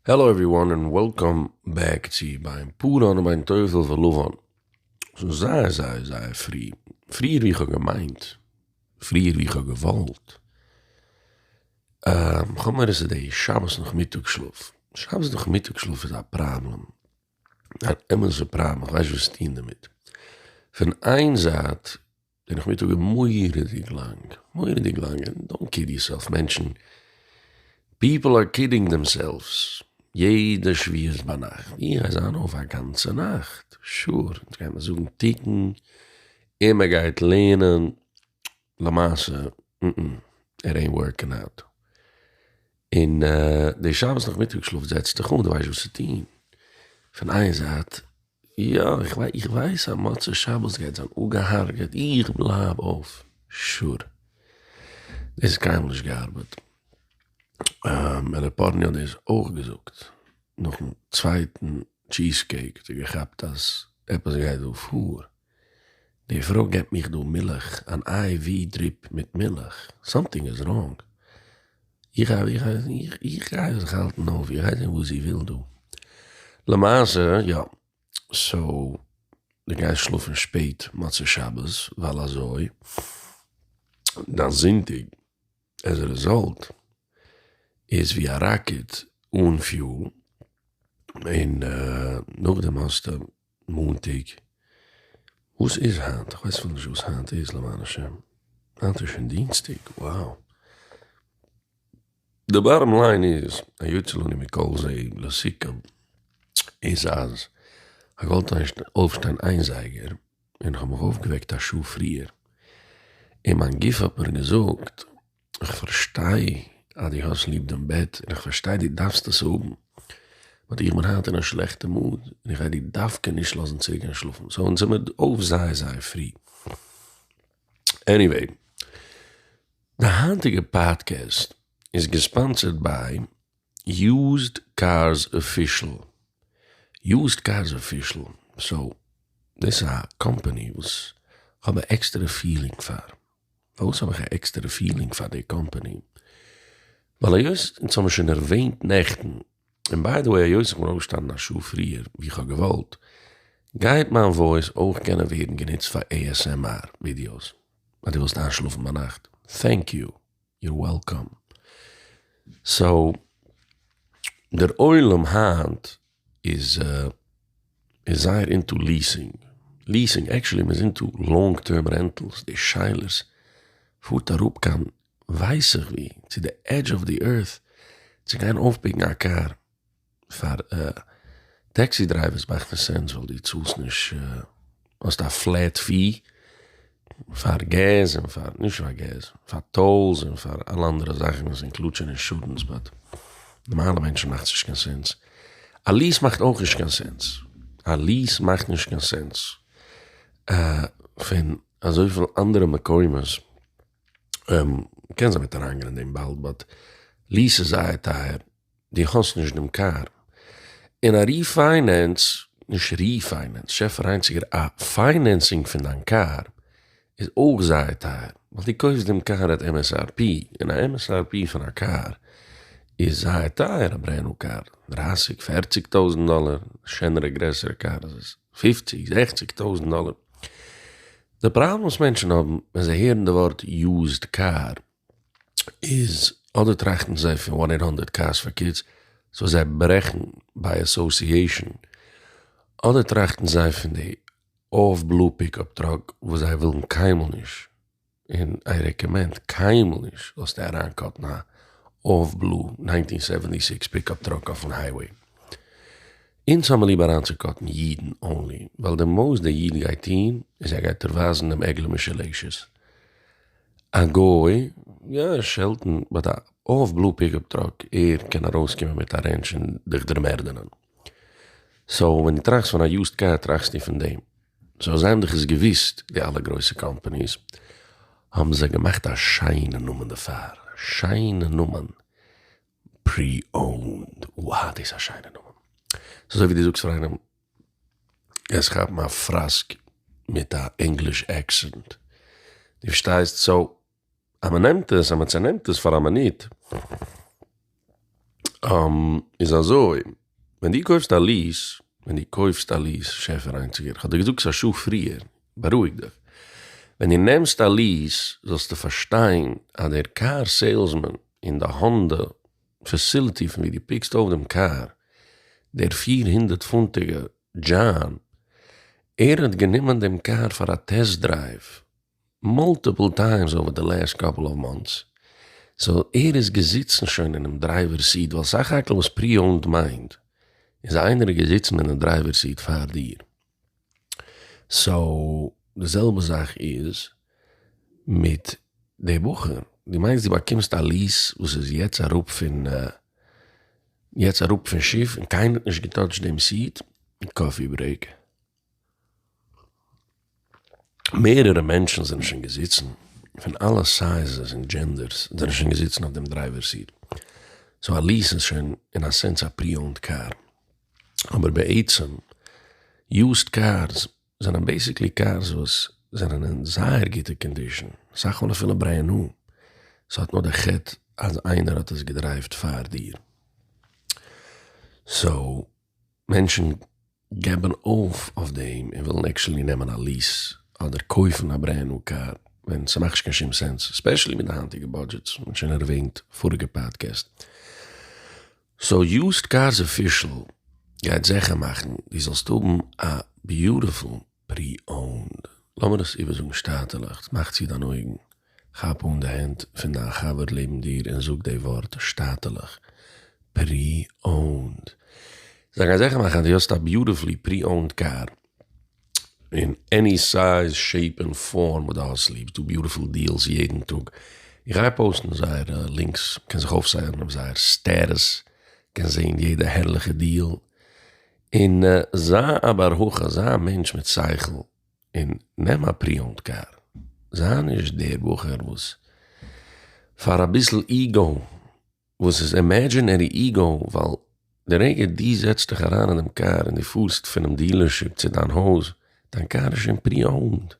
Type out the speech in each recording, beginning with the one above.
העלא עווריוואן און וועלקאם בעק צו בין פאראן ובין תובל ולבן שוין זייער זייער זייער פרי, פריער ווי איך האב געמיינט, פריער ווי איך האב געוואלט, כ'האב מורא ס'איז די שבת נאכמיטאג שלאף, שבת נאכמיטאג שלאף איז א פראבלעם, אן אמת'ע פראבלעם, כ'ווייס נישט וואס צו טון דערמיט, פון איין זייט. די נאכמיטאג איז מורא'דיג לאנג, מורא'דיג לאנג, דאנט קיד יורסעלף מענטשן, פיפל אר קידינג דעמסעלווס, יעדע שביעי איז ביינאכט, איך גיי זיין אויף א גאנצע נאכט, שור, אונז גיימער זאגן תיקון, און מען גייט לערנען, למעשה, איט עינט ווארקינג אוט, און די שבת נאכמיטאג שלאף זעצט דיך אן, די ווייסט וואס צו טון, פון איין זייט. יא איך ווייס אז מוצאי שבת גייט זיין אפגעהארגעט איך בלייב אויף שור דאס איז קיינמאל נישט געארבעט ר' פארני האט דאס אויך געזאגט נאכן צווייטן טשיז קעיק האט ער געכאפט אז עפעס גייט דא פאר. די פרוי געבט מיך דא מילך, אן איי ווי דריפ מיט מילך, סאמטינג איז ראנג, איך איך גיי זיך האלטן אויף, איך גיי זען וואס זי וויל דא, למעשה יא, סאו די גייסט שלאפן שפעט מוצאי שבת ווייל אזוי דיין זונטאג עז א רעזאלט איז ווי א ראקעט אן פיול, און נאכדעם האסטו מאנטאג, וואס איז היינט? כ'ווייס אפילו נישט וואס היינט איז למען השם, היינט איז שוין דינסטאג, wow. די באטאם ליין איז, היוצא לנו מכל זה לסיכום, איז אז כ'וואלט געוואלט אויפשטיין איין זייגער, און כ'האב מיך אויפגעוועקט א שעה פריער, און מיין גוף האט מיר געזאגט, איך פארשטיי אז דו האסט ליב דעם בעט און איך פארשטיי דו דארפסט עס האבן, באט איך בין היינט אין א שלעכטע מוד און איך גיי דיר דווקא נישט לאזן צוריק גיין שלאפן, סאו אונז זעמיר אויף זייער זייער פרי. עניוועי, די היינטיגע פאדקעסט איז געספאנסערד ביי יוזד קארס אפישעל, יוזד קארס אפישעל, סאו דאס איז א קאמפאני וואס כ'האב א עקסטערע פילינג פאר, פארוואס האב איך א עקסטערע פילינג פאר די קאמפאני? ווייל היות אונז האבן שוין ערוועינט נעכטן, און ביי די וועי היות איך בין אויפגעשטאנען א שעה פריער ווי איך האב געוואלט, גייט מיין וואויס אויך קענען ווערן גענוצט פאר ASMR ווידיאוס אז דו ווילסט איינשלאפן ביינאכט, טענק יו, יור וועלקאם. סאו דער עולם היינט איז איז זייער אינטו ליעסינג, ליעסינג, עקשעלי מען איז אינטו לאנג טערם רענטעלס, די שאלות פארט אראפ קיין ווייס איך ווי, צו די עדזש אוו די ערט, צו גיין אויפפיקן א קאר, פאר טעקסי דרייווערס מאכט עס סענס ווייל די צאלסט נישט האסט א פלעט פי פאר געז און פאר נישט פאר געז פאר טאללס און פאר אלע אנדערע זאכן וואס אינקלודשען אינשורענס באט נארמאלע מענטשן מאכט נישט קיין סענס א ליעס מאכט אויך נישט קיין סענס א ליעס מאכט נישט קיין סענס פון אזויפיל אנדערע מקומות קען זיין מ'וועט אריינגיין אין דעם באלד באט ליעס איז זייער טייער. די האסט נישט דעם קאר און א ריפיינענס, נישט ריפיינענס, שעפער איינציגער א פיינענסינג פון דיין קאר איז אויך זייער טייער ווייל די קויפסט דעם קאר עט MSRP און א MSRP פון א קאר איז זייער טייער א ברענד ניו קאר דרייסיג פערציג טויזענט דאלער שענערע גרעסערע קאר איז עס פופציג זעכציג טויזענט דאלער די פראבלעם וואס מענטשען האבן ווען זיי הערן די ווארט יוזד קאר איז אדער טראכטן זיי פון וואן עיט האנדערט קארס פאר קידס סאו זיי ברעכן ביי אסאסיעישאן, אדער טראכטן זיי פון די אויף בלו פיקאפ טראק וואס זיי ווילן קיינמאל נישט, און איי רעקאמענד קיינמאל נישט זאלסטו אריינקאטן א אויף בלו נײַנצן סעווענטי סיקס פיקאפ טראק אויפן הייוועי. אונז האמיר ליב אריינצוקאטן אידן אנלי, ווייל די מאס דער איד גייט טון איז ער גייט דיר ווייזן דעם עגלה משולשת. א גוי, יא ער שעלטן, באט א האלף בלו פיקאפ טראק, ער קען ארויס קומען מיט א רענטש און דיך דערמערדענען. סאו ווען דו טראכסט פון א יוזד קאר טראכסטו פון דעם. סאו זענדיך עס געוויסט די אלע גרויסע קאמפעניס האבן זיי געמאכט א שיינע נאמען דערפאר, א שיינע נאמען, פרי אונד, וואו דאס איז א שיינע נאמען. ס'איז אזוי ווי דו זאגסט פאר איינעם גייסט כאפן א פראסק מיט א ענגליש עקסענט, דו פארשטייסט? סאו אז מען נעמט עס אז מען צענעמט עס פאר א מינוט איז אזוי, ווען דו קויפסט א ליעס, ווען דו קויפסט א ליעס, שעפער איינציגער, כ'האב דיר געזאגט עס א שעה פריער, בארואיג דיך, ווען דו נעמסט א ליעס זאלסטו פארשטיין אז דער קאר סעילסמאן אין די האנדא פעסיליטי פון ווי דו פיקסט אויף דעם קאר, דער פֿיר הונדערט פונטיגע דזשאן, ער האט גענומען דעם קאר פאר א טעסט דרייוו מאלטיפעל טיימס אווער די לעסט קאפעל אוו מאנטס, סאו ער איז געזיצן שוין אינעם דרייווער סיט, ווייל סך הכל וואס פרי אונד מיינט איז איינער איז געזיצן אינעם דרייווער סיט פאר דיר. סאו די זעלבע זאך איז מיט די בחור, דו מיינסט דו באקומסט א ליעס וואס איז יעצט אראפ פון יעצט אראפ פון שיף און קיינער האט נישט געטאטשט דעם סיעט און קאפי ברעיק, מערערע מענטשן זענען שוין געזיצן פון אלע סייזעס און דזשענדערס זענען שוין געזיצן אויף דעם דרייווער סיעט, סאו א ליעס איז שוין אין א סענס א פרי אונד קאר. אבער בעצם יוזד קארס זענען בעסיקלי קארס וואס זענען אין זייער גוטע קאנדישאן, אסאך מאל אפילו ברענד ניו, סאיז האט נאר די חטא אז איינער האט עס געדרייווט פאר דיר. סאו מענטשן געבן אויף אויף דעם און ווילן עקשעלי נעמען א ליעס אדער קויפן א ברענד ניו קאר ווען סמאכט נישט קיין שום סענס, ספעשעלי מיט די היינטיגע בודזשעטס, מ'האט שוין ערוועינט פאריגע פאדקעסט. סאו יוזד קארס אפישעל גייט זעכער מאכן דו זאלסט האבן א ביוטיפול פרי אונד. לאמיר עס איבערזאגן שטאטעלעך, מאך צו דיין אויגן, כאפ אן די הענט פון דיין חבר לעבן דיר און זאג די ווארט שטאטעלעך פרי אונד. זיי גייען זעכער מאכן אז דו האסט א ביוטיפולי פרי אונד קאר. אין עני סייז שעיפ און פארם וואס די האסט ליב, ס'דא ביוטיפול דיעלס יעדן טאג, איך גיי פאוסטן זייערע לינקס, קענסט זיך אויפסיינען אויף זייער סטעטוס, קענסט זעהן יעדע הערליכע דיעל, און זיי א בר הכי, זיי א מענטש מיט שכל, און נעם א פרי אונד קאר, זיי נישט דער בחור וואס פאר אביסל איגאו. וואס איז אימעדזשינערי איגאו ווייל די רגע דו זעצט דיך אריין אין דעם קאר און דו פארסט פונעם דיעלערשיפ צו דיין הויז, דיין קאר איז שוין פרי אוינד,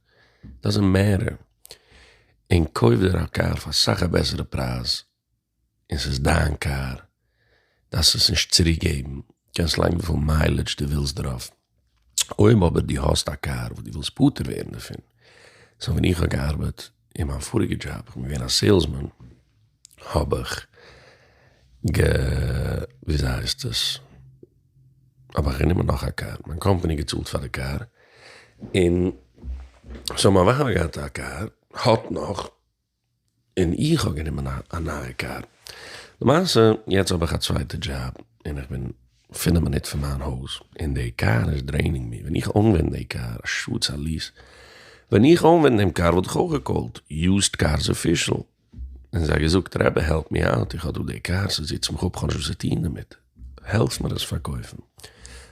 דאזענט מעטער, און קויף דיר א קאר פאר סאך א בעסערע פרייז און ס'איז דיין קאר, דארפסט עס נישט צוריקגעבן, קענסט לייגן וויפיל מיילעדזש דו ווילסט דערויף. אויב אבער דו האסט א קאר וואס דו ווילסט פטור ווערן דערפון, סא ווען איך האב געארבעט אין מיין פאריגע דזשאב, איך בין געווען א סעילסמאן, האב איך גע וויאזוי הייסט עס, האב איך גענומען נאך א קאר, מיין קאמפאני האט געצאלט פאר די קאר, און סאו מיין ווייב האט געהאט א קאר, האט נאך. און איך האב גענומען א נייע קאר. למעשה יעצט האב איך א צווייטע דזשאב און איך בין פינף מינוט פון מיין הויז און די קאר איז דרעינינג מי, ווען איך אנווענד די קאר, א שאד ס'איז א ליעס, ווען איך אנווענד דעם קאר וואלט איך אויך געקאלט יוזד קארס אפישעל און זיי געזאגט רבי העלפ מי אוט איך האב דא די קאר ס'זיצט מיך אפ כ'האב נישט וואס צו טון דערמיט העלפסט מיר עס פארקויפן?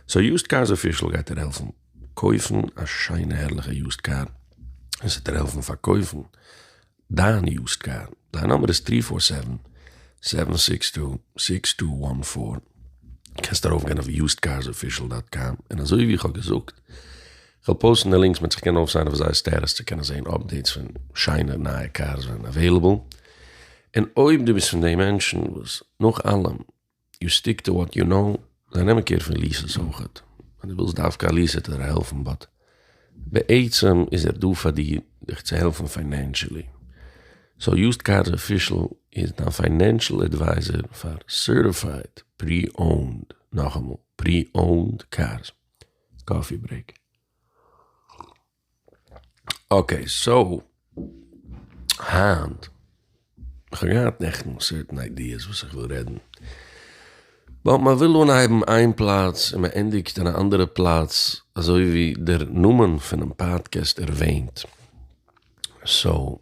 סאו יוזד קארס אפישעל גייט דיר העלפן? קויפן א שיינע הערליכע יוזד קאר און ס'עט דיר העלפן פארקויפן דיין יוזד קאר. דיין נאמבער איז טרי פאר סעווען, סעווען סיקס טו, סיקס טו וואן פאר. קענסט ארויף גיין אויף יוזד קארס אפישעל דאט קאם און אזוי ווי איך האב געזאגט כ'וועל פאוסטן די לינקס מען זיך קען אויפסיינען אויף זייער סטעטוס צו קענען זעהן אפדעיטס פון שיינע נייע קארס ווען עוועילעבל. און אויב דו ביסט פון די מענטשן וואס נאך אלעם יו סטיק טו וואט יו נאו, זיי נעמען קעיר פון ליסעס אויך, אז דו ווילסט דווקא א ליסער טוט ער העלפן באט בעצם איז ער דא פאר דיר דיך צו העלפן פיינענשעלי, סאו יוזד קארס אפישעל איז דיין פיינענשעל עדווייזער פאר סערטיפייד פרי אונד, נאכאמאל פרי אונד קארס. קאפי ברעיק. אקעי סאו היינט איך האב געהאט נעכטן סערטען איידיעס וואס איך וויל רעדן באט מען וויל אנהייבן איין פלאץ און מען ענדיגט אין א אנדערע פלאץ אזוי ווי דער נאמען פונעם פאדקעסט ערוועינט סאו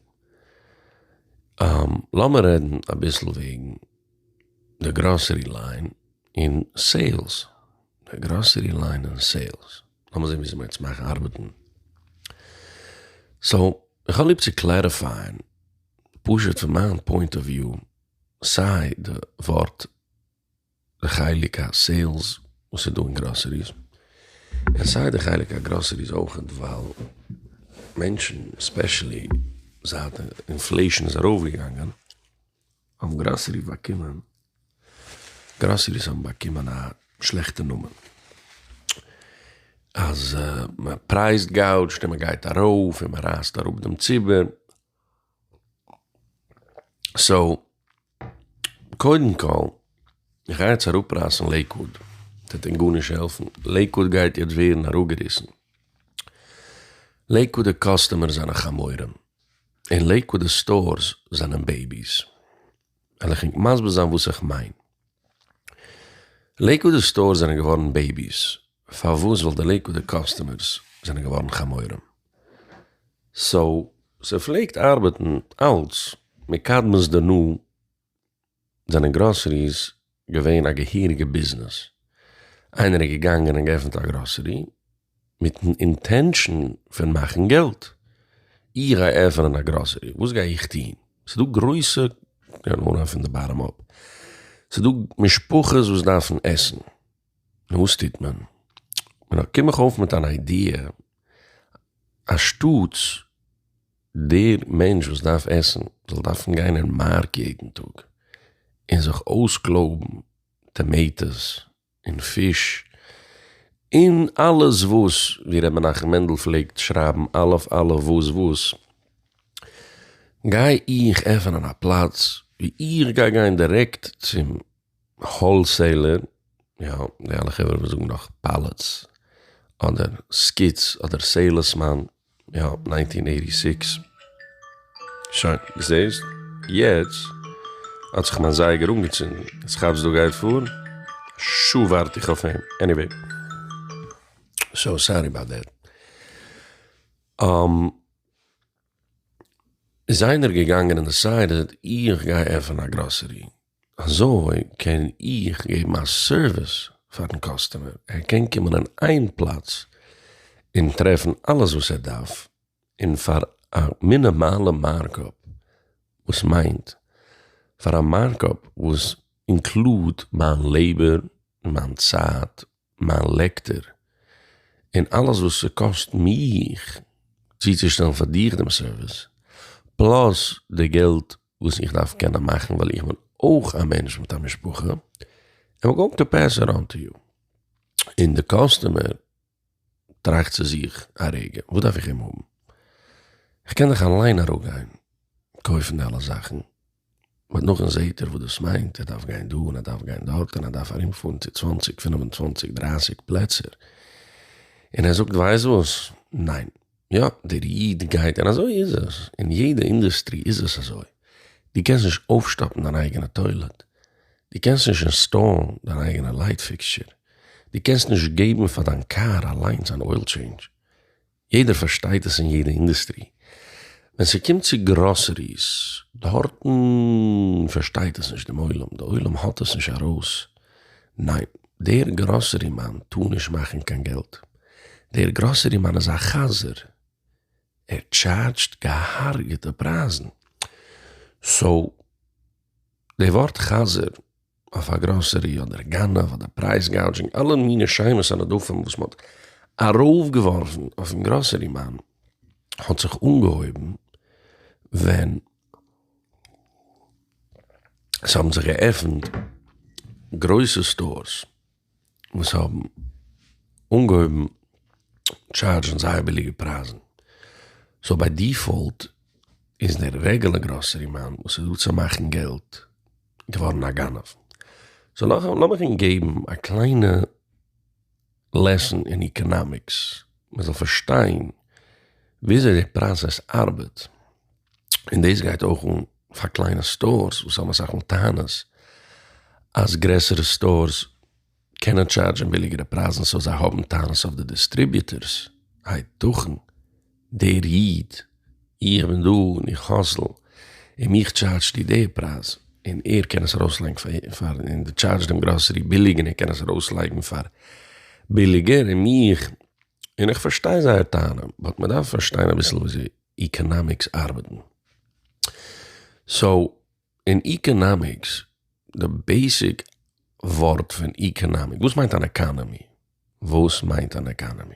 לאמיר רעדן אביסל וועגן די גראסערי ליין און סעילס די גראסערי ליין און סעילס לאמיר זעהן ווי אזוי מ'גייט עס מאכן ארבעטן. סאו, איך האב ליב צו קלעריפייען, פשוט פון מיין פוינט אוו וויו, סיי די ווארט, די חלק הסעילס וואס איז דא אין גראסעריס, און סיי די חלק הגראסעריס אויכעט, ווייל מענטשן, ספעשעלי זייט די אינפלעישן איז ארויפגעגאנגען, האבן גראסעריס באקומען גראסעריס האבן באקומען א שלעכטע נאמען אז מען פרייזט גאוטשט און מען גייט ארויף און מען רייסט אראפ דעם ציבור סאו קודם כל איך גיי יעצט אראפרייסן לעיקוואוד ס'וועט אין גארנישט העלפן לעיקוואוד גייט יעצט ווערן אראפגעריסן לעיקוואודע קאסטומער זענען חמורים. אין לעיקוואד די סטארס זענען בעיביס, וועל איך ענק מסביר זיין וואס איך מיין. לעיקוואד די סטארס זענען געווארן בעיביס פארוואס ווייל די לעיקוואד די קאסטומערס זענען געווארן חמורים סאו ס'פלעגט ארבעטן אלץ מקדמת דנא. זענען גראסעריס געווען א געהעריגע ביזנעס, איינער איז געגאנגען און געעפנט א גראסערי מיטן אינטענשאן פון מאכן געלט, איך גיי עפענען א גראסערי וואס גיי איך טוהן, ס'איז דא גרויסע, כ'קען אנהייבן פון די באטעם אפ, ס'איז דא משפחות וואס דארפן עסן, נו וואס טוט מען, נו קום איך אויף מיט אן איידיע, אנשטאטס, דער מענטש וואס דארף עסן זאל דארפן גיין אין מארק יעדן טאג און זיך אויסקלויבן טאמעיטאס און פיש און אלעס וואס, ווי ר' מנחם מענדל פלעגט שרייבן אלף אלף וואס וואס, גיי איך עפענען א פלאץ ווי איך גיי גיין דירעקט צום האלסעילער, יא, די אלע חברה וואס זאגן נאך פעלעטס, אדער סקיטס, אדער סעילעסמאן, יא, ניינטין עיטי סיקס. שוין, זעהסט? יעצט האט זיך מיין זייגער אנגעצינדן, יעצט כאפסט דא גייט פאר? שעה ווארט איך אויף אים, עניוועי, סאו סארי אבאוט דעט. איז איינער געגאנגען און דעסיידעד איך גיי עפענען א גראסערי? אזוי קען איך געבן א סערוויס פארן קאסטומער, ער קען קומען אין איין פלאץ און טרעפן אלעס וואס ער דארף און פאר א מינימאלע מארקאפ, וואס מיינט פאר א מארקאפ וואס אינקלוד מיין לעיבער און מיין צייט מיין לעקטער, און אלעס וואס ס'קאסט מיך צוצושטעלן פאר דיך דעם סערוויס, פלאס די געלט וואס איך דארף קענען מאכן ווייל איך בין אויך א מענטש מיט א משפחה, איים גאוינג טו פעס איט אן טו יו. און די קאסטומער טראכט צו זיך א רגע, וואס דארף איך אים האבן? איך קען דאך אליין אראפגיין קויפן די אלע זאכן. באט נאכדעם זעהט ער וואס דאס מיינט, ער דארף גיין דא און ער דארף גיין דארט און ער דארף ארום פארן צו צוואנציג פינף און צוואנציג דרייסיג פלעצער, און ער זאגט ווייסט וואס, ניין, יא דער איד גייט און אזוי איז עס, אין יעדע אינדעסטרי איז עס אזוי, דו קענסט נישט אויפשטאפן דיין אייגענע טוילעט, דו קענסט נישט אינסטאלן דיין אייגענע לייט פיקסטשער, דו קענסט נישט געבן פאר דיין קאר אליינס אן אויל טשעינדזש, יעדער פארשטייט עס אין יעדע אינדעסטרי, ווען ס'קומט צו גראסעריס דארטן פארשטייט עס נישט דעם עולם, די עולם האט עס נישט ארויס, ניין דער גראסערי מאן טאר נישט מאכן קיין געלט, דער גראסערי מאן איז א חזיר, ער טשארדזשט געהארגעטע פרייזן, סאו. די ווארט חזיר אויף א גראסערי אדער גנב אדער פרייז גאודזשינג אלע מיני שמות און הדפים וואס מ'האט ארויפגעווארפן אויפן גראסערי מאן האט זיך אנגעהויבן ווען ס'האבן זיך געעפנט גרויסע סטארס. וואס האבן אנגעהויבן טשארדזשן זייער ביליגע פרייזן, סאו ביי דיפאלט איז דער רעגולער גראסערי מאן וואס איז דא צו מאכן געלט געווארן א גנב. סאו לאמיך אונז געבן א קליינע לעסן אין איקענאמיקס, מען זאל פארשטיין וויאזוי די פראסעס ארבעט. און דאס גייט אויך אן פאר קליינע סטארס וואס האבן אסאך מאל טענות אז גרעסערע סטארס קענען טשארדזשען ביליגערע פרייזן סאו זיי האבן טענות אויף די דיסטריביוטערס, הייתכן דער איד, איך בין דא און איך האסל און מיך טשארדזשט איר די פרייז און ער קען עס ארויסלייגן פאר און די טשארדזשט דעם גראסערי ביליג און ער קען עס ארויסלייגן פאר ביליגער און מיך און איך פארשטיי זייער טענה באט מען דארף פארשטיין אביסל וויאזוי איקאנאמיקס ארבעטן. סאו אין איקאנאמיקס די בעיסיק ווארט פון איקאנאמיק וואס מיינט אן עקאנעמי? וואס מיינט אן עקאנעמי?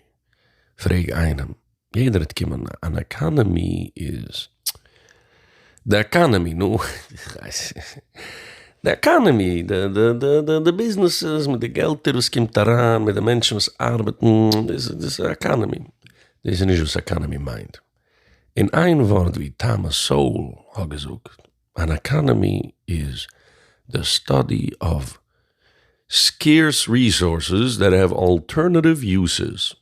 פרעג איינעם יעדער וועט קומען אן עקאנעמי איז די עקאנעמי נו די עקאנעמי די ביזנעסעס מיט די געלטער וואס קומט אריין מיט די מענטשן וואס ארבעטן דאס איז עקאנעמי. דאס איז נישט וואס אקאנעמי מיינט. אין איין ווארט ווי טאמעס סאול האט געזאגט, אן אקאנעמי איז די סטאדי אוו סקעירס ריסארסעס דעט העוו אלטערנעטיוו יוסעס,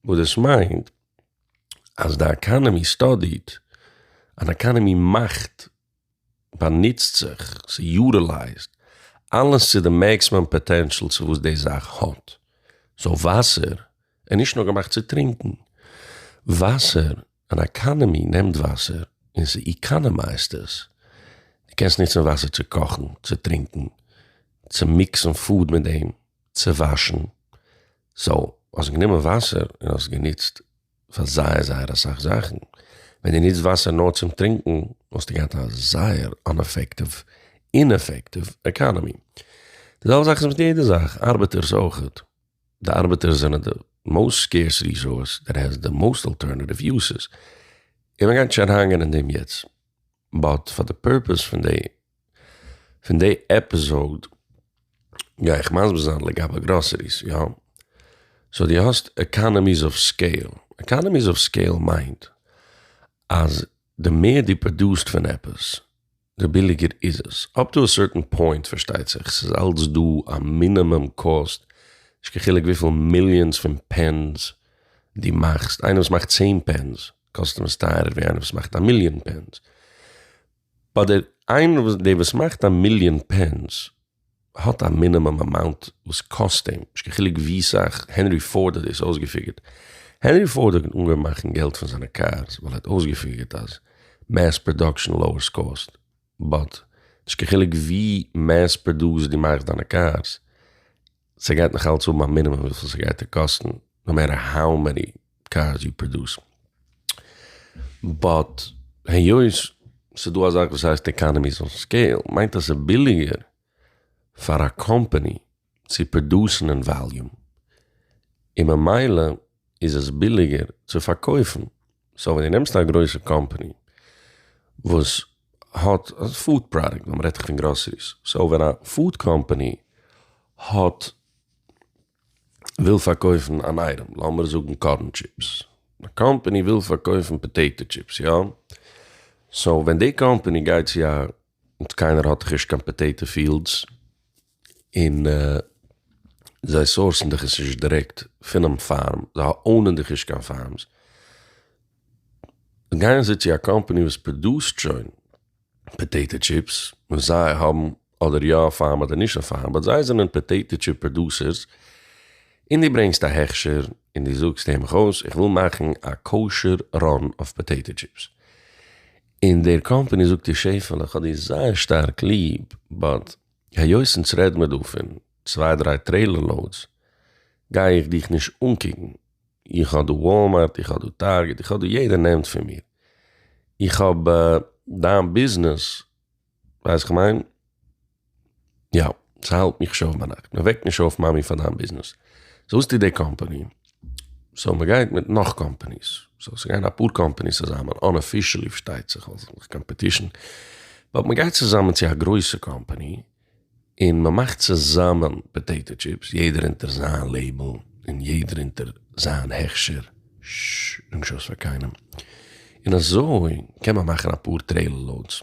וואס דאס מיינט אז די אקאנעמי סטאדיט, אן אקאנעמי מאכט באנוצט זיך, ס'יוטילייזט, אלעס צו די מעקסימום פאטענשאל צו וואס די זאך האט. סאו וואסער איז נישט נאר געמאכט צו טרינקן. וואסער, אן עקאנעמי נעמט וואסער און ס'עקאנעמייזט עס. דו קענסט נוצן וואסער צו קאכן, צו טרינקן, צו מיקסן פוד מיט דעם, צו וואשן. סאו האסט גענומען וואסער און האסט גענוצט. פאר זייער זייער אסאך זאכן, ווען די ניצט וואסער נאר צום טרינקן וואלסטו געהאט א זייער אנעפעקטיוו, אינעפעקטיוו, עקאנעמי. די זעלבע זאך איז מיט יעדע זאך, ארבעטערס אויכעט, די ארבעטערס זענען די מאוסט סקעירס ריסאורס דעט העז די מאוסט אלטערנעטיוו יוסעס, און מען גייט נישט אריינגיין אין דעם יעצט. באט פאר די פורפעס פון די פון די עפיזאוד גיי איך מסביר זיין לגבי גראסעריס יא? סאו די האסט עקאנעמיס אוו סקעיל, עקאנעמיס אוו סקעיל מיינט אז די מער די פראדוסט פון עפעס די ביליגער איז עס, אפ טו א סערטען פוינט פארשטייט זיך, ס'איז אלץ דא א מינימום קאסט, נישט קיין חילוק וויפיל מיליאנס פון פענס די מאכסט, איינער וואס מאכט צען פענס, קאסטום איז טייערער ווי איינער וואס מאכט א מיליאן פענס. ביי דער איינער וואס דער וואס מאכט א מיליאן פענס האט א מינימום אמאונט וואס קאסט אים, נישט קיין חילוק ווי סאך, הענרי פארד האט דאס אויסגעפיגערט, הענרי פארד האט אנגעהויבן מאכן געלט פון זיינע קארס ווייל ער האט אויסגעפיגערט אז מעס פראדאקשען לאוערס קאסט, באט נישט קיין חילוק ווי מעס פראדאוסד דו מאכסט דיינע קארס, ס'גייט נאך אלץ האבן א מינימום וויפיל ס'גייט דיר קאסטן נאו מעטער האו מעני קארס יו פראדוס. באט היות ס'איז דא א זאך וואס הייסט אקאנאמיס אוו סקעיל מיינט אז ס'איז ביליגער פאר א קאמפאני צו פראדוסן אין וואליום און ממילא. איז עס ביליגער צו פארקויפן, סאו ווען דו נעמסט א גרויסע קאמפעני וואס האט פוד פראדוקט, ווען מ'רעדט פון גראסעריס, סאו ווען א פוד קאמפעני האט, וויל פארקויפן אן אייטעם, לאמיר זאגן קארן טשיפס, א קאמפעני וויל פארקויפן פאטעיטא טשיפס יא, סאו ווען די קאמפעני גייט צו א און קיינער האט דאך נישט קיין פאטעיטא פיעלדס, און זיי סאורסן דיך עס נישט דירעקט פונעם פארם, זיי אונען דיך נישט קיין פארמס, גייען זיי צו א קאמפעני וואס פראדוסט שוין פאטעיטא טשיפס, און זיי האבן אדער יא א פארם אדער נישט א פארם, באט זיי זענען פאטעיטא טשיפ פראדוסערס, און דו ברענגסט א הכשר און דו זאגסט הער מיך אויס איך וויל מאכן א קאושער ראן אויף פאטעיטא טשיפס, און דער קאמפעני זאגט איר שעפעלע כ'האב דיר זייער שטארק ליב באט היות אונז רעד מיר דא פון צוויי דריי טרעילער לאודס גיי איך דיך נישט אנקוקן איך האב דא וואלמארט איך האב דא טארגעט איך האב דא יעדער נעמט פון מיר איך האב דיין ביזנעס ווייסט כ'מיין? יא, ס'האלט מיך שוין אויף ביינאכט, מ'וועקט נישט אויף מאמי פאר דיין ביזנעס, סאו וואס טוט די קאמפאני? סאו מ'גייט מיט נאך קאמפאניס, סאו ס'גייען אפאר קאמפאניס צוזאמען, אנאפישעלי פארשטייט זיך, ווייל ס'איז דאך קאמפעטישן, באט מ'גייט צוזאמען צו א גרויסע קאמפאני, און מ'מאכט צוזאמען פאטעיטא טשיפס, יעדער אונטער זיין לעיבל, און יעדער אונטער זיין הכשר, ששש, נישט אויס פאר קיינעם, און אזוי קען מען מאכן אפאר טרעילער לאודס.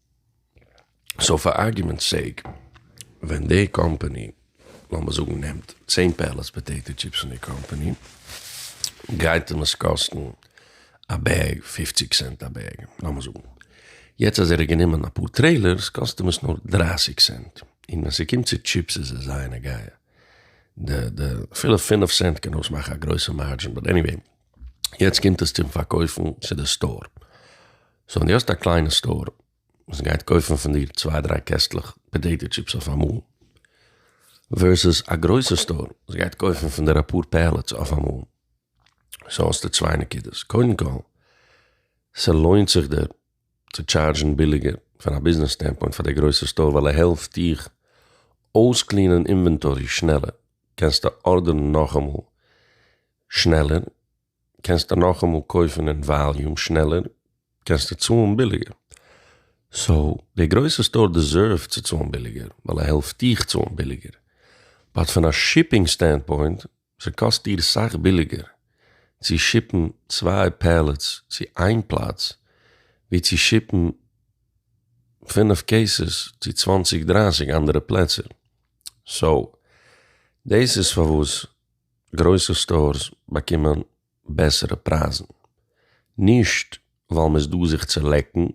סאו פאר ארגומענטס סעיק, ווען די קאמפעני, לאמיר זאגן, נעמט צען פעלעטס פאטעיטא טשיפס פון די קאמפעני, גייט אים עס קאסטן א בעג פופציג סענט א בעג, לאמיר זאגן. יעצט אז ער האט גענומען אפאר טרעילערס, קאסט אים עס נאר דרײַסיק סענט. און ווען ס'קומט צו טשיפס איז עס זייער נוגע. די די אפילו פינף סענט קען אויסמאכן א גרויסע מארדזשין, באט עניוועי. יעצט קומט עס צום פארקויפן צו די סטאר, סאו ווען די האסט א קליינע סטאר וואס גייט קויפן פון דיר צוויי דריי קעסטלעך פאטעיטא טשיפס אויף אמאל, ווערסעס א גרויסע סטאר וואס גייט קויפן פון דיר אפאר פעלעטס אויף אמאל, סאו האסטו צוויי נקודות, קודם כל ס'לוינט זיך דיר צו טשארדזשן ביליגער פון א ביזנעס סטענדפוינט פאר די גרויסע סטאר ווייל ער העלפט דיך אויסקלינען אינווענטארי שנעלער, קענסטו ארדערן נאכאמאל שנעלער, קענסטו נאכאמאל קויפן אין וואליום שנעלער, קענסטו צאלן ביליגער. סאו, די גרויסע סטאר דעזערווט צו צאלן ביליגער, ווייל ער העלפט דיך צאלן ביליגער. באט פון א שיפינג סטענדפוינט, ס'קאסט דיר סאך ביליגער צו שיפן צוויי פעלעטס צו איין פלאץ, ווי צו שיפן פֿינף קעיסעס צו צוואַנציק דרײַסיק אנדערע פלעצער. סאו, דאס איז פארוואס גרויסע סטארס באקומען בעסערע פרייזן, נישט ווייל מ'איז דא זיך צו לעקן,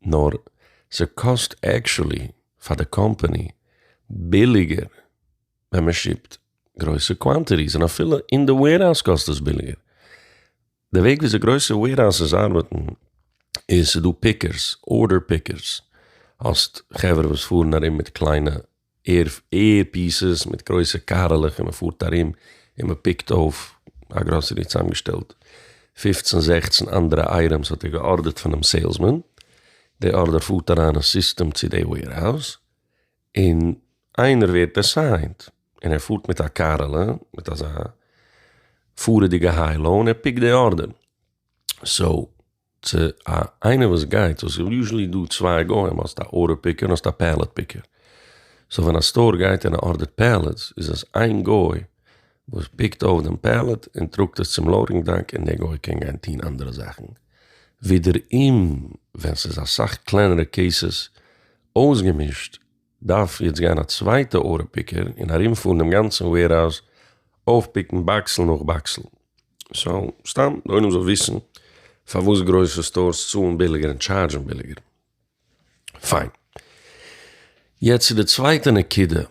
נאר ס'קאסט עקשולי פאר די קאמפאני ביליגער ווען מ'שיפט גרויסע קוואנטיטיס, און אפילו אין די וועירהאוז קאסט עס ביליגער. די וועג וויאזוי גרויסע וועירהאוזעס ארבעטן איז ס'דא פיקערס, ארדער פיקערס, האסט חברה וואס פארן ארום מיט קליינע עיר פיסעס מיט גרויסע קארעלעך און מ'פארט ארום און מ'פיקט אויף, א גראסערי האט צוזאמגעשטעלט פֿופֿצן זעכצן אנדערע אייטעמס האט ער געארדערט פונעם סעילסמאן, די ארדער פארט אריין אין סיסטעם צו די וועירהאוז און איינער ווערט עססיינט און ער פארט מיט א קארעלע מיט אזא פארעדיגע היי לאו און ער פיקט די ארדער, סאו. צו א איינער וואס גייט וואס איז יוזשעלי דא צוויי גוים האסט א ארדער פיקער און האסט א פעלעט פיקער, סאו ווען א סטאר גייט און ער ארדערט פעלעטס איז עס איין גוי וואס פיקט אויף דעם פעלעט און טראגט עס צום לאודינג דאק און דער גוי קען גיין טוהן אנדערע זאכן, ווידעראום ווען ס'איז אסאך קלענערע קעיסעס אויסגעמישט. דארף יעצט גיין א צווייטע ארע פיקער און ארומפארן דעם גאנצן וועירהאוז אויפפיקן באקסל נאך באקסל. סאו, סתם די עולם זאל וויסן פארוואס גרויסע סטארס צאלן ביליגער און טשארדזשן ביליגער. פיין. יעצט צו די צווייטע נקודה.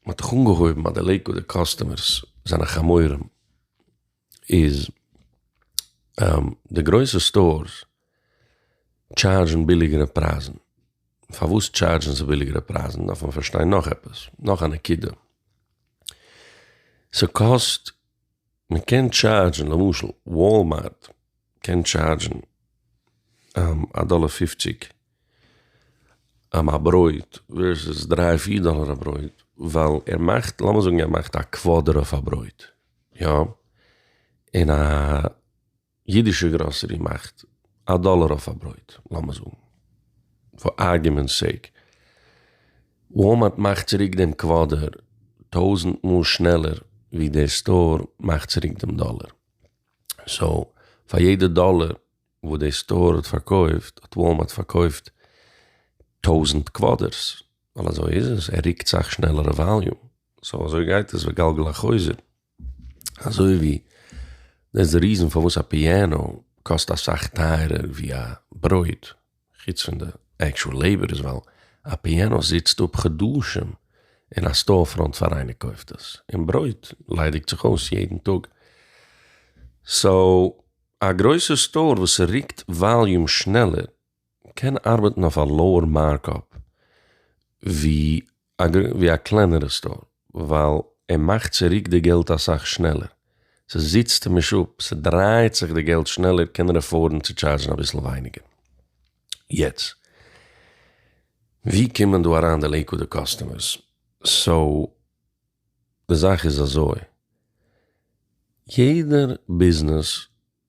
מ'האט דאך אנגעהויבן אז די לעיקוואדער קאסטומערס זענען חמורים. איז די גרויסע סטארס טשארזשן ביליגערע פרייזן, פארוואס טשארזשן זיי ביליגערע פרייזן דארף מען פארשטיין נאך עפעס, נאך א נקודה, ס'קאסט, מ'קען טשארזשן למשל וואלמארט קען טשארדזשן א דאלער פופציג א ברויט ווערסעס דריי פיר דאלער א ברויט ווייל ער מאכט לאמיר זאגן ער מאכט א קוואדער אויף א ברויט יא און א אידישע גראסערי מאכט א דאלער אויף א ברויט לאמיר זאגן פאר ארגומענטס סעיק וואלמארט מאכט צוריק דעם קוואדער טויזענט מאל שנעלער ווי דער סטאר מאכט צוריק דעם דאלער. סאו פאר יעדע דאלער וואס די סטאר האט פארקויפט האט וואלמארט פארקויפט טויזענט קוואדערס, ווייל אזוי איז עס, ער ריקט סאך שנעלער א וואליום, סאו אזוי גייט עס וגלגל החוזר, אזוי ווי דאס איז די ריזען פארוואס א פיאנאו קאסט אסאך טייערער ווי א ברויט, חוץ פון די עקשועל לעיבאר איז ווייל א פיענא זיצט אפ חדשים אין א סטאר פראנט פאר איינער קויפט עס, און ברויט ליידיגט זיך אויס יעדן טאג, סאו א גרויסע סטאר וואס ריקט וואליום שנעלער קען ארבעטן אויף א לאוער מארקאפ ווי אגב ווי א קלענערע סטאר ווייל ער מאכט צוריק די געלט אסאך שנעלער, ס'זיצט נישט אפ, ס'דרייעט זיך די געלט שנעלער קען ער עפארדן צו טשארזשן אביסל ווייניגער. יעצט ווי קומען דא אריין די לעיקוואדע קאסטומערס? סאו די זאך איז אזוי, יעדער ביזנעס.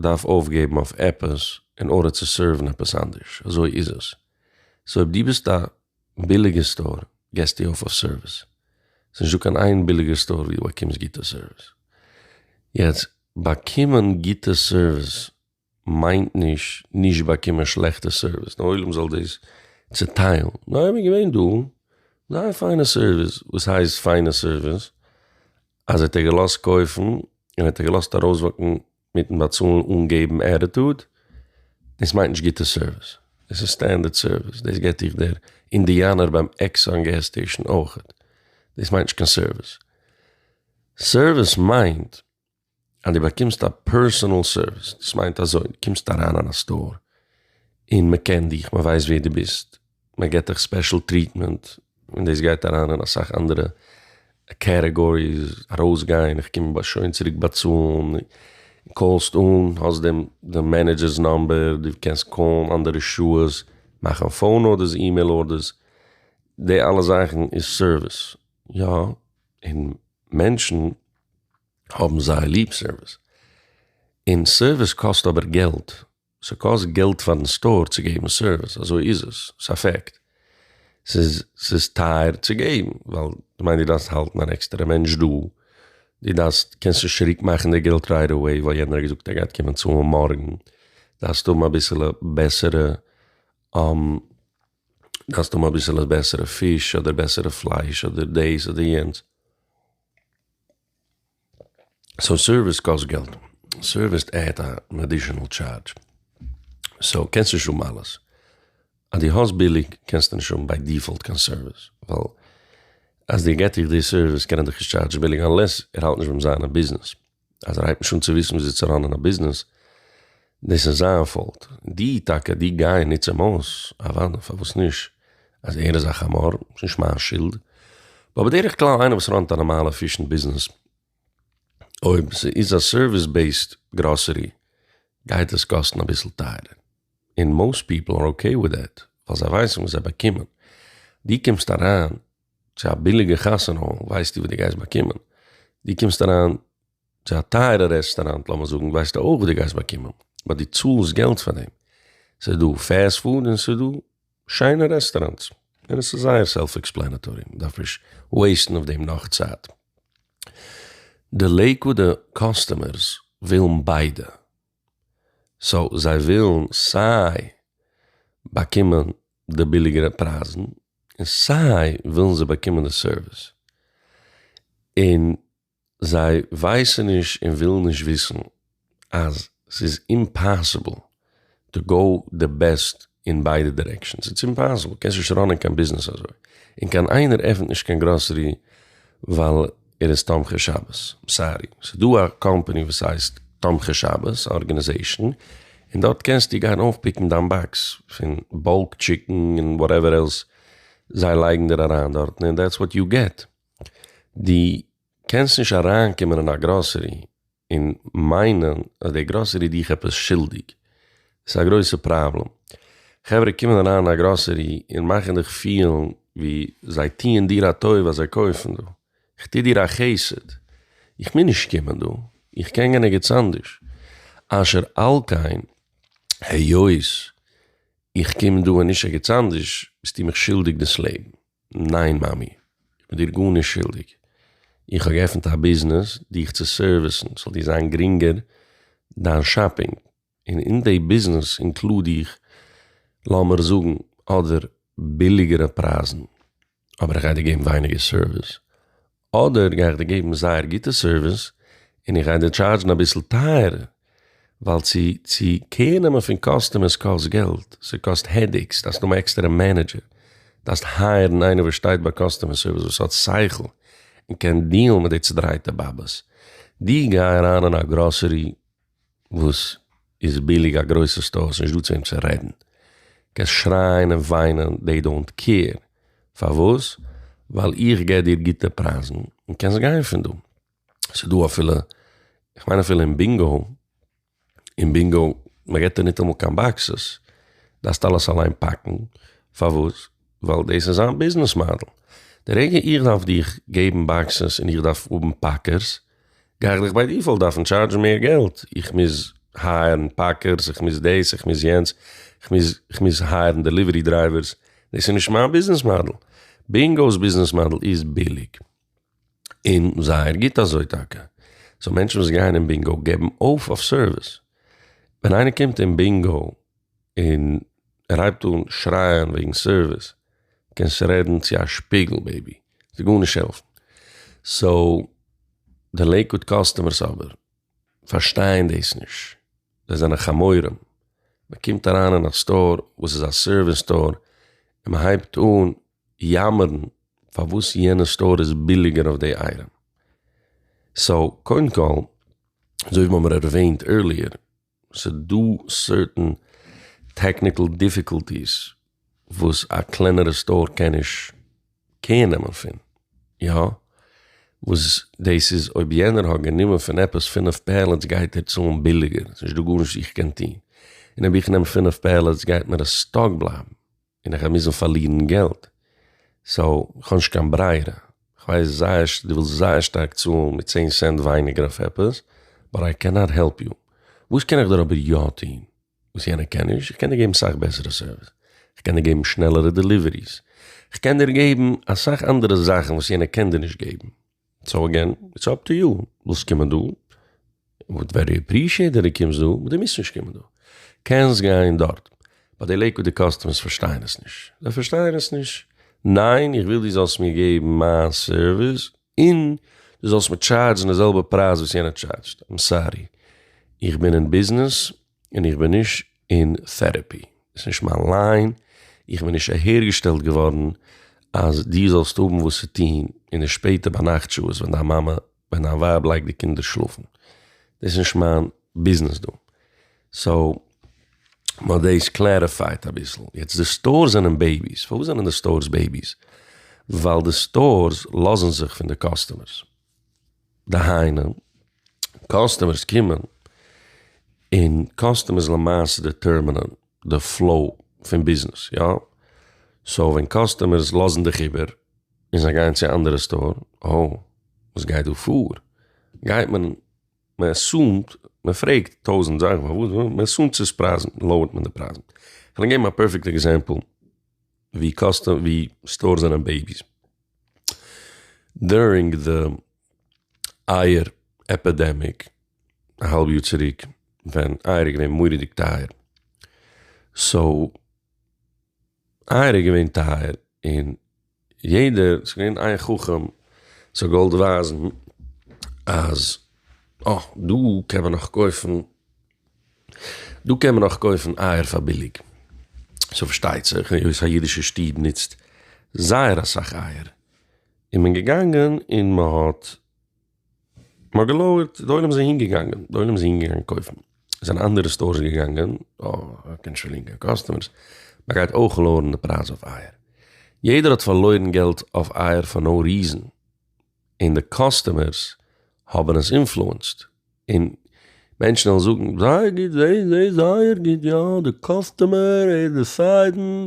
דארף אויפגעבן אויף עפעס אין ארדער צו סערוון עפעס אנדערש, אזוי איז עס. סאו אויב דו ביסט א ביליגע סטאר געסטו אויף אויף סערוויס, ס'איז נישטא קיין איין ביליגער סטאר ווי דו באקומסט גוטע סערוויס. יעצט, באקומען גוטע סערוויס מיינט נישט נישט באקומען שלעכטע סערוויס, דער עולם זאל דאס צעטיילן, ניין, איז געווען דא זייער פיינע סערוויס, וואס הייסט פיינע סערוויס? אז ער האט ער געלאזט קויפן און האט ער געלאזט ארויסוואקן מיטן באצאלן אן געבן עטיטוד, דאס מיינט נישט גוטע סערוויס, דאס איז סטענדערט סערוויס, דאס געט דיך דער אינדיאנער ביים עקסאן געז סטעישן אויכעט, דאס מיינט נישט קיין סערוויס, סערוויס מיינט אז דו באקומסט א פערסאנעל סערוויס, דאס מיינט אזוי, דו קומסט אריין אין א סטאר, און מען קען דיך, מען ווייסט ווער דו ביסט, מען געט דיך ספעשל טריטמענט, און דאס גייט אריין אין אסאך אנדערע קעטעגאריס, ארויסגיין, איך קום שוין צוריק באצאלן, קאלסט אן, האסט דעם דעם מענעדזשער'ס נאמבער, דו קענסט קאלן אנדערע שעות, מאכן פאון ארדערס, אימעיל ארדערס, די אלע זאכן איז סערוויס, יא, און מענטשן. האבן זייער ליב סערוויס, און סערוויס קאסט אבער געלט, ס'קאסט געלט פארן סטאר צו געבן סערוויס, אזוי איז עס, ס'א פעקט, ס'איז ס'איז טייער צו געבן, ווייל כ'מיין דו דארפסט האלטן אן עקסטערע מענטש דא, דו דארפסט, קענסט נישט צוריק מאכן די געלט רייט אוועי ווייל יענער האט געזאגט ער גייט קומען צאלן מארגן, דארפסט האבן אביסעלע בעסערע, דארפסט האבן אביסעלע בעסערע פיש אדער בעסערע פלייש אדער דאס אדער יענץ. סאו סערוויס קאסט געלט, סערוויס עדד אן עדישענעל טשארדזש, סאו קענסט נישט האבן אלעס, אז דו האסט ביליג קענסטו נישט האבן ביי דיפאלט קיין סערוויס, ווייל אז דער געט דיך די סערוויס קען ער דיך נישט טשארדזשן ביליג, אנלעס ער האלט נישט ביים זיין אין ביזנעס. אז ער הייבט נישט אן צו וויסן וויאזוי צו ראנען א ביזנעס, דאס איז זיין פאולט, די טאקע די גיי נוץ אים אויס, אוואדע פארוואס נישט, אז ער איז א חמור, ס'איז נישט מיין שולד, באט בדרך כלל איינער וואס ראנט א נארמאלע פישן ביזנעס, אויב ס'איז א סערוויס בעיסד גראסערי, גייט עס קאסטן אביסל טייערער, און מאוסט פיפל אר אקעי וויט דעט, ווייל זיי ווייסן וואס זיי באקומען, די קומסט אריין צו א ביליגע חתונה ווייסטו וואס דו גייסט באקומען, דו קומסט אריין צו א טייערע רעסטאראנט לאמיר זאגן ווייסטו אויך וואס דו גייסט באקומען, באט דו צאלסט געלט פאר דעם, ס'איז דא פעסט פוד און ס'איז דא שיינע רעסטאראנטס, און עס איז זייער סעלף עקספלענעטארי, מען דארף נישט וועיסטן אויף דעם נאך צייט. די לעיקוואודע קאסטומערס ווילן ביידע. סאו זיי ווילן סיי באקומען די ביליגערע פרייזן און סיי ווילן זיי באקומען די סערוויס, און זיי ווייסן נישט און ווילן נישט וויסן אז ס'איז אימפאסיבל טו גאו די בעסט אין ביידע דירעקשאנס איטס אימפאסיבל, קענסט נישט ראנען קיין ביזנעס אזוי, און קיין איינער עפענט נישט קיין גראסערי ווייל ער איז תומכי שבת, סארי, ס'איז דא א קאמפאני וואס הייסט תומכי שבת ארגענעזעישאן און דארט קענסטו גיין אויפפיקן דיין באקס פון באלק טשיקן און וואטעווער עלס זיי לייגן דיר אריין דארטן און דעטס וואט יו געט, דו קענסט נישט אריינקומען אין א גראסערי. און מיינען אז די גראסערי דיך עפעס שולדיג איז א גרויסע פראבלעם, חברה קומען אריין אין א גראסערי און מאכן דיך פילן ווי זיי טוען דיר א טובה אז זיי קויפן דא, איך טו דיר א חסד, איך מוז נישט קומען דא, איך קען גיין ערגעץ אנדערש, אשר על כן היות איך קום דא און נישט ערגעץ אנדערש ביסטו מיך שולדיג דאס לעבן. ניין מאמי, איך בין דיר גארנישט שולדיג, איך האב געעפנט א ביזנעס דיך צו סערוויסן ס'זאל דיר זיין גרינגער דיין שאפינג, און אין די ביזנעס אינקלוד איך לאמיר זאגן אדער ביליגערע פרייזן, אבער איך גיי דיר געבן ווייניגער סערוויס, אדער גיי איך דיר געבן זייער גוטע סערוויס און איך גיי דיר טשארדזשן אביסל טייערער, ווייל צו צו קעיר נעמען פון קאסטומערס קאסט געלט, ס'קאסט העדעיקס, דארפסט האבן א עקסטערע מענעדזשער, דארפסט הייערן איינער וואס שטייט ביי קאסטומער סערוויס וואס האט שכל און קען דיעלן מיט די צודרייטע באבעס, דו גיי אריין אין א גראסערי, וואס איז ביליג א גרויסע סטאר ס'נישט דא צו וועם צו רעדן קענסט שרייען און וויינען דעי דאונט קעיר פארוואס ווייל איך גיב דיר גוטע פרייזן און קענסט גיין פון דא ס'איז דא אפילו איך מיין אפילו אין בינגאו אין בינגאו מ'געט דיר ניטאמאל קיין באקסעס דארפסט אלעס אליין פאקן פארוואס ווייל דאס איז זיין ביזנעס מאדעל די רגע איך דארף דיך געבן באקסעס און איך דארף האבן פאקערס. גיי איך דיך ביי דיפאלט דארפן טשארדזשן מער געלט, איך מוז הייערן פאקערס, איך מוז דאס, איך מוז יענץ, איך מוז, איך מוז הייערן דעליווערי דרייווערס, דאס איז נישט מיין ביזנעס מאדעל, בינגאו'ס ביזנעס מאדעל איז ביליג, און זייער גוט אזוי טאקע, סאו מענטשן וואס גייען אין בינגאו געבן אויף אויף סערוויס, ווען איינער קומט אין בינגאו. און ער הייבט אן שרייען וועגן סערוויס, קענסט רעדן צו א שפיגל בעיבי, ס'וועט גארנישט העלפן. סאו די לעיקוואד קאסטומערס אבער פארשטייען דאס נישט, זיי זענען חמורים, מען קומט אריין אין א סטאר וואס איז א סערוויס סטאר און מען הייבט אן יאמערן פארוואס יענע סטאר איז ביליגער אויף די אייטעם. סאו קודם כל, אזוי ווי מיר האבן ערוועינט ערליער, ס'דא סערטען טעקניקעל דיפיקאלטיס וואס א קלענערע סטאר קען נישט קעיר נעמען פון, יא? וואס דאס איז אויב יענער האט גענומען פון עפעס פֿינף פעלעטס גייט ער צאלן ביליגער, ס'נישט דא גארנישט וואס איך קען טון, און אויב איך נעם פֿינף פעלעטס גייט מיר עס סטאק בלייבן. און איך גיי מוזן פארלירן געלט, סאו כ'האב נישט קיין ברירה, כ'ווייס זייער ש דו ווילסט זייער שטארק צאלן מיט צען סענט ווייניגער אויף עפעס, באט איי קענאט העלפ יו, וואס קען איך דיר אבער יא טון וואס יענער קען נישט, איך קען דיר געבן סאך בעסערע סערוויס, כ'קען דיר געבן שנעלערע דעליוועריס, כ'קען דיר געבן אסאך אנדערע זאכן וואס יענער קען דיר נישט געבן. סאו אגעין, איטס אפ טו יו, ווילסט קומען דא, וואלט ווערי אפרישיעט די דו קומסט דא, באט דו מוזט נישט קומען דא, קענסט גיין דארט, באט די לעיקוואודע קאסטומערס פארשטייען עס נישט, זיי פארשטייען עס נישט, ניין איך וויל דו זאלסט מיר געבן מיין סערוויס און דו זאלסט מיר טשארדזשן די זעלבע פרייז וואס יענער טשארדזשט, איים סארי איך בין אין ביזנעס און איך בין נישט אין טערעפי, ס'איז נישט מיין ליין, איך בין נישט אהערגעשטעלט געווארן אז דו זאלסט האבן וואס צו טון אין די שפעטע ביינאכט שעות ווען דיין מאמע, ווען דיין ווייב לייגט די קינדער שלאפן, דאס איז נישט מיין ביזנעס דא. סאו מ'האט דאס קלעריפייט אביסל. יעצט די סטארס זענען בעיביס, פארוואס זענען די סטארס בעיביס? ווייל די סטארס לאזן זיך פון די קאסטומערס, דהיינו, קאסטומערס קומען און קאסטומערס למעשה דעטערמינען די פלאו פון ביזנעס, יא? סאו ווען קאסטומערס לאזן דיך איבער און זיי גייען צו א אנדערע סטאר, אהא, וואס גייט דא פאר? גייט מען, מען עסומט, מען פרעגט טויזנט זאכן פארוואס, מען עסומט ס'איז פרייזן, לאוערט מען די פרייזן. כ'וועל געבן א פערפעקט עקזעמפל ווי קאסטומער, ווי סטארס זענען בעיביס. דורינג די אייער עפידעמיק א האלב יאר צוריק ווען אייער איז געווען מוראדיג טייער סאו אייער איז געווען טייער און יעדער ס'איז געווען איין חכם וואס האט געוואלט ווייזן אז אה דא קען מען נאך קויפן דא קען מען נאך קויפן אייער פאר ביליג, סאו פארשטייט זיך היות א אידישע שטוב נוצט זייער אסאך אייער איז מען געגאנגען און מען האט מען האט געלויערט די עולם איז אהין געגאנגען די עולם איז אהין געגאנגען קויפן זענען אנדערע סטארס געגאנגען אויף קען שוין לינקען קאסטומערס מען גייט אויך לאוערן די פרייז אויף אייער יעדער האט פארלוירן געלט אויף אייער פאר נאו ריזען. און די קאסטומערס האבן עס אינפלוענסד, און מענטשן וועלן זאגן זייער גוט, זיי זעהן זייער גוט, יא די קאסטומער איז דיסיידן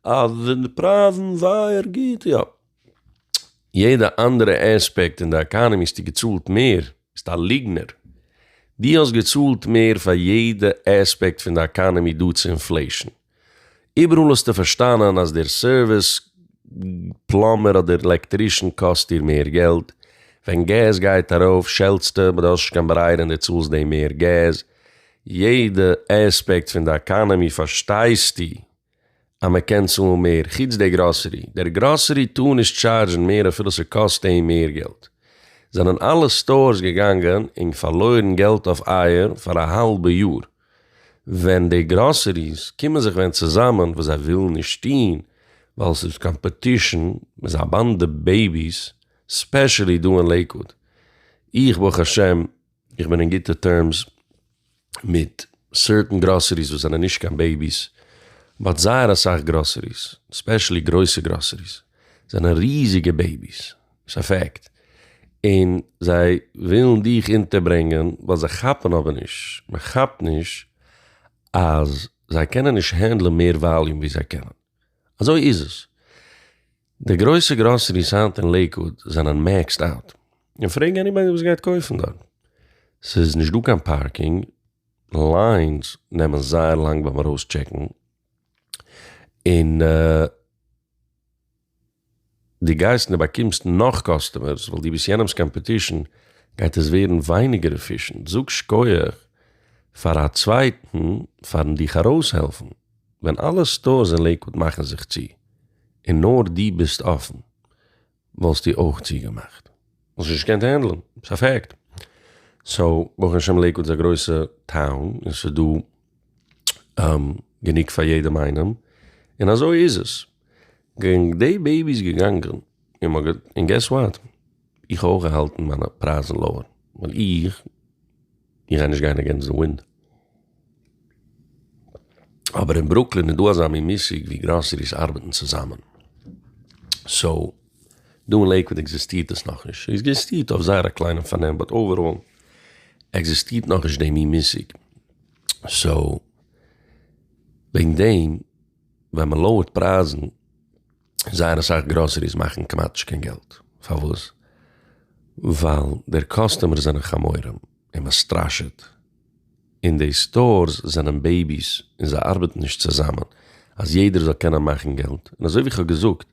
אז די פרייזן זייער גוט, יא יעדע אנדערע עספעקט אין די עקאנעמי האסטו געצאלט מער, ביסט א ליגנער, דו האסט געצאלט מער פאר יעדע עספעקט פון די עקאנעמי דא צו אינפלעישן. איבעראל האסטו פארשטאנען אז דער סערוויס, פלאמבער אדער עלעקטרישן, קאסט דיר מער געלט. ווען געז גייט ארויף שעלטסטו, באט דו האסט נישט קיין ברירה און דו צאלסט דעם מער געז. יעדע עספעקט פון די עקאנעמי פארשטייסטו אז מען קען צאלן מער, חוץ דער גראסערי. דער גראסערי טאר נישט טשארזשן מער אפילו ס'קאסט אים מער געלט. זענען אלע סטארס געגאנגען און פארלוירן געלט אויף אייער פאר א האלבע יאר? ווען די גראסעריס קומען זיך ווען צוזאמען וואס זיי ווילן נישט טוהן ווייל ס'איז קאמפעטישן מ'איז א באנדע בעיביס ספעשעלי דא אין לעיקוואוד איך ברוך השם איך בין אין גוטע טערמס מיט סערטען גראסעריס וואס זענען נישט קיין בעיביס באט זייער אסאך גראסעריס ספעשעלי גרויסע גראסעריס זענען ריזיגע בעיביס. ס'איז א פאקט. און זיי ווילן דיך אונטערברענגען ווייל זיי כאפן אבער נישט, מען כאפט נישט אז זיי קענען נישט הענדלען מער וואליום ווי זיי קענען. אזוי איז עס. די גרויסע גראסעריס היינט אין לעיקוואד זענען מעקסד אוט. און פרעג עניבאדי וואס גייט קויפן דארט. ס'איז נישט דא קיין פארקינג, ליינס נעמען זייער לאנג ביים ארויסטשעקן, און די גייסט און באקומסט נאך קאסטומערס ווייל די ביסט יענעמס קאמפעטישן גייט עס ווערן ווייניגער עפישענט, זאג שקויעך פאר א צווייטן פארן דיך ארויסהעלפן, ווען אלע סטארס אין לעיקוואד מאכן זיך צו און נאר די ביסט אפן וואלסטו אויך צוגעמאכט, וואלסט נישט געקענט הענדלען, ס'איז א פעקט, סאו ברוך השם לעיקוואד איז א גרויסע טאון און ס'איז דא גענוג פאר יעדעם איינעם, און אזוי איז עס, גענג די בעיבי איז געגאנגען, און געס וואט, איך האב אויך געהאלטן מיינע פרייזן לאוער, ווייל איך איך גיי נישט גיין אגענסט די ווינד, אבער אין ברוקלין איז דא אזא מין מושג ווי גראסעריס ארבעטן צוזאמען, סאו דא אין לעיקוואד עקזיסטירט עס נאכנישט, ס'איז עקזיסטירט אויף זייער א קליינעם פארנעם, באט אוועראל עקזיסטירט נאכנישט די מין מושג. סאו וועגן דעם ווען מען לויערט פרייזן זייער אסאך גראסעריס מאכן כמעט נישט קיין געלט, פארוואס? ווייל דער קאסטומערס זענען חמורים און מען סטראשעט, און די סטארס זענען בעיביס און זיי ארבעטן נישט צוזאמען אז יעדער זאל קענען מאכן געלט, און אזוי ווי איך האב געזאגט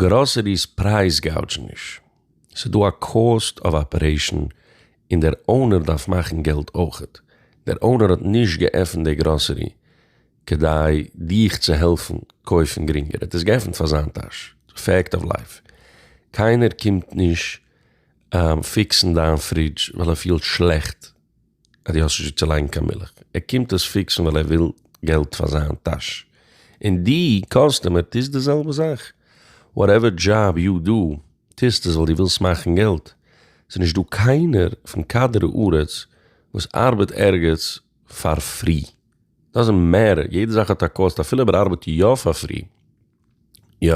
גראסעריס פרייז גאודזשן נישט. ס'איז דא א קאוסט אוו אפערעישן און דער אונער דארף מאכן געלט אויכעט, דער אונער האט נישט געעפנט די גראסערי כדי דיך צו העלפן קויפן גרינגער, ער האט עס געעפנט פאר זיין טאש, פעקט אוו לייף, קיינער קומט נישט פיקסן דיין פרידזש ווייל ער פילט שלעכט. אז דו האסט נישט וואו צו לייגן קיין מילך, ער קומט עס פיקסן ווייל ער וויל געלט פאר זיין טאש, און דו קאסטומער טוסט די זעלבע זאך, וואטעווער דזשאב יו דו, טוסט עס ווייל דו ווילסט מאכן געלט, ס'איז נישט דא קיינער פון כדור הארץ וואס ארבעט ערגעץ פאר פרי, דאזענט מעטער, יעדע זאך האט א קאסט אפילו אויב ער ארבעט יא פאר פרי. יא,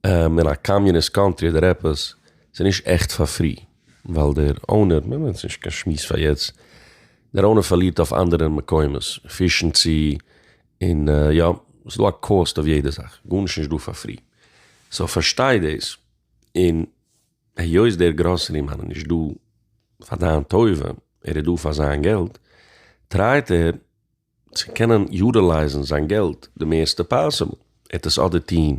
אין א קאמיוניסט קאנטרי אדער עפעס, ס'איז נישט עכט פאר פרי, ווייל דער אונער, מ'נעמט יעצט נישט קיין שמועס פאר יעצט, דער אונער פארלירט אויף אנדערע מקומות, פישן צו, און יא, ס'איז דא א קאסט אויף יעדע זאך, גארנישט איז נישט דא פאר פרי. סאו פארשטיי דאס, און היות דער גראסערי מאן איז נישט דא פאר דיין טובה, ער איז דא פאר זיין געלט, טרייט ער, צו קענען יוטילייזן זיין געלט די מערסטע פאסיבל, ער האט עס אדער טוהן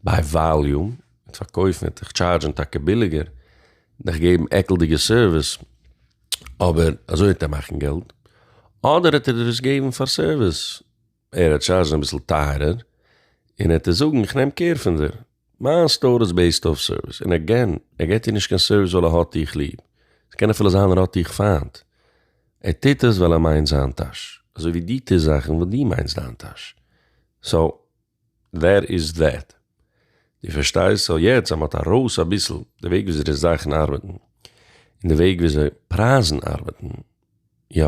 ביי וואליום, ער האט פארקויפן, ער האט דיך טשארדזשן טאקע ביליגער, דיך געבן עקלדיגע סערוויס, אבער אזוי וועט ער מאכן געלט, אדער האט ער דיר עס געבן פאר סערוויס, ער האט טשארדזשן אביסל טייערער, און ער האט עס זאגן איך נעם קער פון דיר, מיין סטאר איז בעיסד אויף סערוויס, און עגעין, ער געט דיר נישט קיין סערוויס ווייל ער האט דיך ליב, ס'קען אפילו זיין ער האט דיך פיינט, ער טוט עס ווייל ער מיינט זיין טאש, אזוי ווי דו טוסט זאכן ווייל דו מיינסט דיין טאש, סאו דעט איז דעט, דו פארשטייסט? סאו יעצט אז מ'האט ארויס אביסל די וועג וויאזוי די זאכן ארבעטן, און די וועג וויאזוי פרייזן ארבעטן, יא,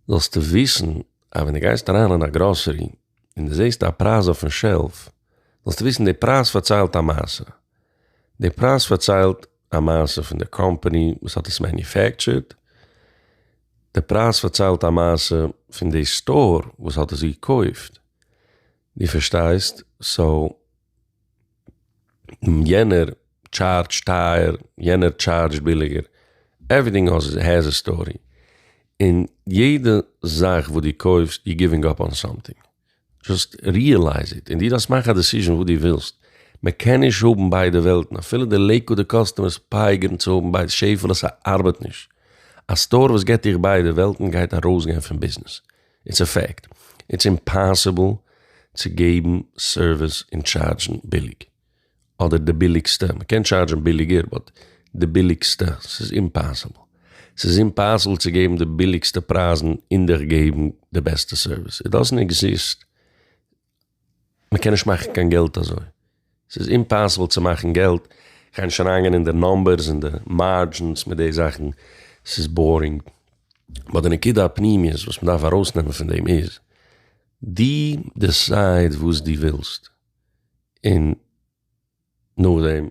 זאלסטו וויסן אז ווען דו גייסט אריין אין א גראסערי און די זעהסט א פרייז אויפן שעלף, זאלסטו וויסן די פרייז פארציילט א מעשה. די פרייז פארציילט א מעשה פון די קאמפאני וואס האט עס מעניופעקטשערד, די פרייז פארציילט א מעשה פון די סטאר וואס האט עס געקויפט. דו פארשטייסט? סאו. יענער טשארדזשט טייער, יענער טשארדזשט ביליגער, עווריטינג העז א סטארי, און יעדע זאך וואס דו קויפסט יו גיווינג אפ אן סאמטינג, דזשאסט ריעלייז איט, און דו דארפסט מאכן א דעסיזשען וואס דו ווילסט, מען קען נישט האבן ביידע וועלטן, אפילו די לעיקוואדע קאסטומערס פייגערן צו האבן ביידע, שעפעלע ס'ארבעט נישט, א סטאר וואס געט דיך ביידע וועלטן גייט ארויסגיין פון ביזנעס. איטס א פעקט, איטס אימפאסיבל צו געבן סערוויס און טשארדזשן ביליג, אדער די ביליגסטע, מען קען טשארדזשן ביליגער באט די ביליגסטע, ס'איז אימפאסיבל, ס'איז אימפאסיבל צו געבן די ביליגסטע פרייזן און דיך געבן די בעסטע סערוויס, איט דאזענט עקזיסט. מ'קען נישט מאכן קיין געלט אזוי, ס'איז אימפאסיבל צו מאכן געלט, כ'גיי נישט אריינגיין אין די נאמבערס און די מארדזשינס מיט די זאכן, ס'איז בארינג, באט די נקודה הפנימיות וואס מ'דארף ארויסנעמען פון דעם איז, דו דיסייד וואס דו ווילסט, און נאכדעם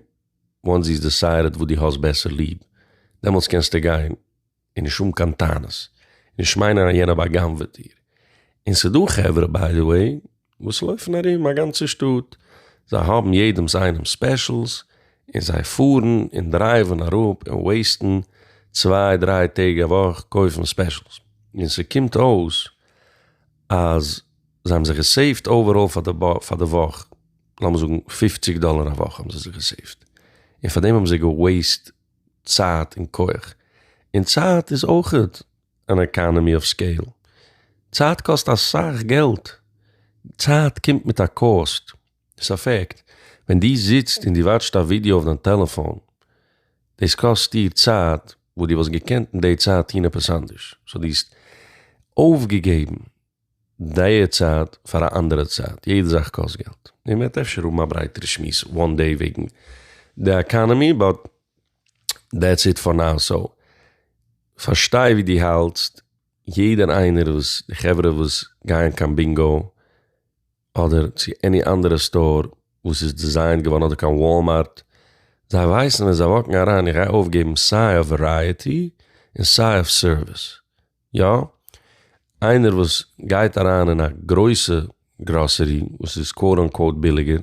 וואנס דו האסט דיסיידעד וואס דו האסט בעסער ליב, דעמאלטס קענסטו גיין און נישט האבן קיין טענות, און נישט מיינען אז יענער בא'גנב'עט דיר. און ס'דא חברה, ביי די וועי, וואס לויפן ארום א גאנצע שטאט, זיי האבן יעדעמ'ס איינעמ'ס ספעשילס, און זיי פארן און דרייווען אראפ און וועיסטן צוויי דריי טעג א וואך קויפן ספעשילס. און ס'קומט אויס אז זיי האבן זיך געסעיווט אוועראל פאר די וואך, לאמיר זאגן פופציג דאלער א וואך האבן זיי זיך געסעיווט, און פאר דעם האבן זיי געוועיסט צייט און כח. און צייט איז אויך אן עקאנעמי אוו סקעיל. צייט קאסט אסאך געלט. צייט קומט מיט א קאסט. ס'איז א פעקט. ווען דו זיצט און דו וואטשט א ווידיא אויף דיין טעלעפאן, דאס קאסט דיר צייט וואס דו וואלסט געקענט אין די צייט טון עפעס אנדערש. סאו דו האסט אויפגעגעבן דעיע צייט פאר א אנדערע צייט, יעדע זאך קאסט געלט, און מ'עט אפשר האבן א ברייטערע שמועס וואן דעי וועגן די אקאנעמי באט דעטס איט פאר נאו סאו פארשטיי ווי דו האלטסט, יעדער איינער וואס די חברה וואס גייען קיין בינגא אדער צו עני אנדערע סטאר וואס איז דיזיינט געווארן אדער קיין וואלמארט זיי ווייסן ווען זיי וואקן אריין איך גיי אויפגעבן סיי אויף ווערייעטי און סיי אויף סערוויס יא, איינער וואס גייט אריין אין א גרויסע גראסערי וואס איז קוואוט אנקוואוט ביליגער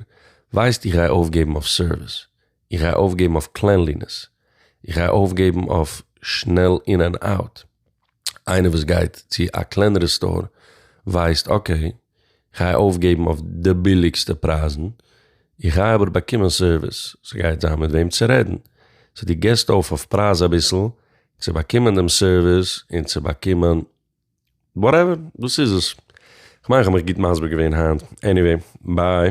ווייסט איך גיי אויפגעבן אויף סערוויס, איך גיי אויפגעבן אויף קלענלינעס, איך גיי אויפגעבן אויף שנעל אין ענד אוט, איינער וואס גייט צו א קלענערע סטאר ווייסט אקעי כ'גיי אויפגעבן אויף די ביליגסטע פרייזן, איך גיי אבער באקומען סערוויס, ס'גייט זיין מיט וועם צו רעדן, סאו דו גיבסט אויף אויף פרייז אביסל צו באקומען דעם סערוויס און צו באקומען וואטעווער, דאס איז עס. כ'מיין כ'האב מיך גוט מסביר געווען היינט, עניוועי, ביי.